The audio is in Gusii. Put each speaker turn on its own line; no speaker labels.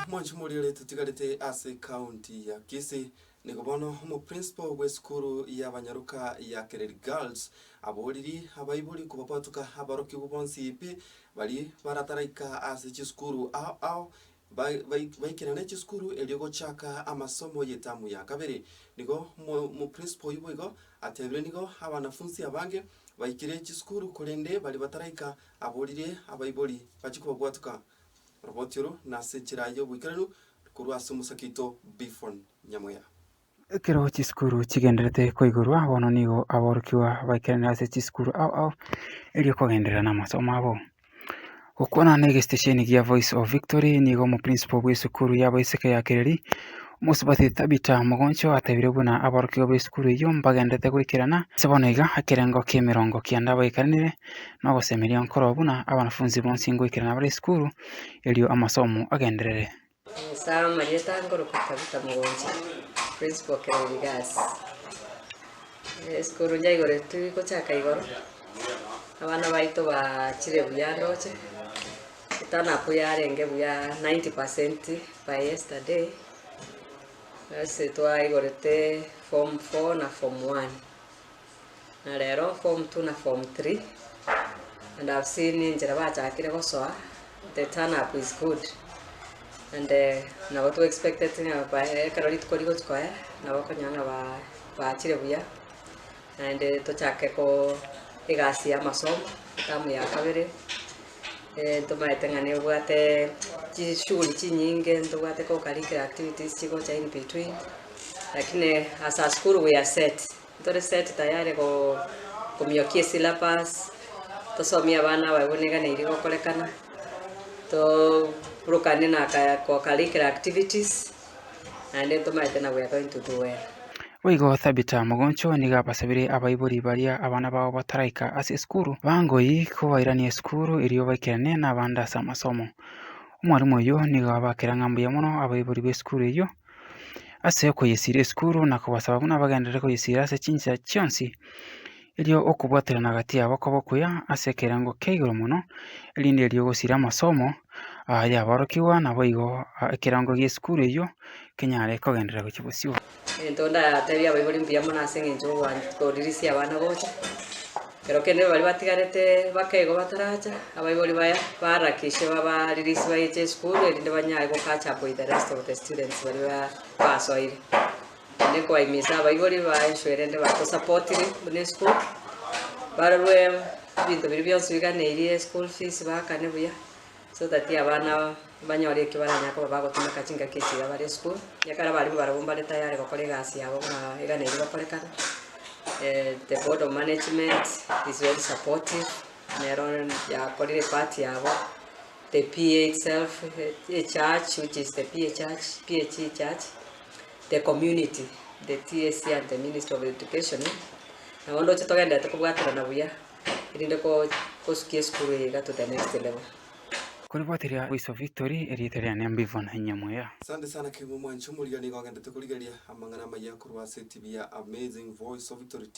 Monto moria ore totigarete ase county ya Kisii nigo bono omoprinsipal bw'esukuru y'abanyaroka ya Kereri Girls aboririe abaibori kobabwatoka aborokigwa bonsi pi baria barataraika ase chisukuru ao ao bai- bai- baikerane chisukuru erio gochaka amasomo y'etamu ya kabere. Nigo mo- omoprinsipal oyio boigo atebire nigo abanafunsi abange baikire chisukuru korende baria bataraika Aboririe abaibori bachie kobwatuka oroboti oro na ase enchera y'oboikeranu korwa ase omosake oito Bphon Nyamweya. Ekero
chisukuru chigendererete koigorwa, bono nigo aborokigwa baikerane ase chisukuru ao ao erio kogenderera namasomo abo. Gokwana na egesitesheni gia Voice of Victory, nigo omoprinsipal bw'esukuru y'abaiseke ya Kereri, Omosubati Tabitha Mogoncho atebire buna aborokigwa b'esukuru eyio mbagendererete goikerana ase bono iga ekerengo ki'emerongo kianda baikaranire nogosemeria nkoroo buna abanafunsi bonsi ngoikerana bare isukuru, erio amasomo agenderere. Musa amariete
agokoroka Tabitha mogocha, principal Kerogi gas. Esukuru yaigoretwe gochaka igoro, abana baito bachire buya ndoche, turn up yarenge buya 90 percent by yesterday, ase twaigorete form four na form one. Na rero form two na form three and I've seen enchera bachakire gosoa the turn up is good and eh, nabo to expected ng'a ba- ekero rituko rigochi koya nabo okonyora ng'a ba- baachire buya naende tochake ko egasi y'amasomo tamu ya kabere Eh, ntomaete ng'a nebwate chishughuli chinyinge ntobwate co-curricular activities chigocha in between lakini as a school we are set Ntore set tayare go komiokia esyllabus, tosomie abana abaibo neganeirie gokorekana, to burukanie na aka co curricular activities, naende ntomaete na we are going to do well. Boigo Thabita
mogoncho nigo abasabire abaibori baria abana bao bataraika ase esukuru bangoyi kobairania esukuru erio baikerane nabande ase amasomo. Omwalimu oyio nigo abakera ng'a mbuya mono abaibori b'esukuru eyio. ase okoyesira esukuru na kobasaba buna bagenderere koyesira ase chinsa chionsi, erio okobwaterana gati yabo kobe okuya ase ekerengo kia igoro mono, erinde erio ogosira amasomo aa y'aborokigwa naboigo ekerengo gi'esukuru eyio kenyare kogenderera gochia bosio. Egento ndateebie
abaibori mbuya mono ase engencho y'ogoancha kodirisia abana gocha. Ero kende baria batigarete bakegwa bataracha, abaibori baya ba Lakishi babaririsia bayeche esukuru, erinde banyae gocatch up with the rest of the students baria basoire. Naende nkobaimisa abaibori baensure erinde batosapotire buna esukuru, barorwe ebinto biria bionsi biganeirie, school fees baakane buya. so that abana aba banyore ekio baranyare koba bagotumeka chingaki echiira bare esukuru, ekiagera ekero abaria barabwo mbare tayari gokora egasi yabo buna eganeirie gokorekana, eh the board of management is very supportive, nero yakorire epart yabo, the PA itself, echurch which is the PA church, PAG church, the community, the TSC and the ministry of education, nabo ndoche togendererete kobwaterana buya. erinde kosukia esukuru eye iga to the next level. Koriboteria
goiso victory erieta riane mbivo na inye muya. Sante sana kegima
mwanche omoriga nigo agendete korigeria amang'ana amaya korwa ase etibi ya Amazing Voice of Victory TV.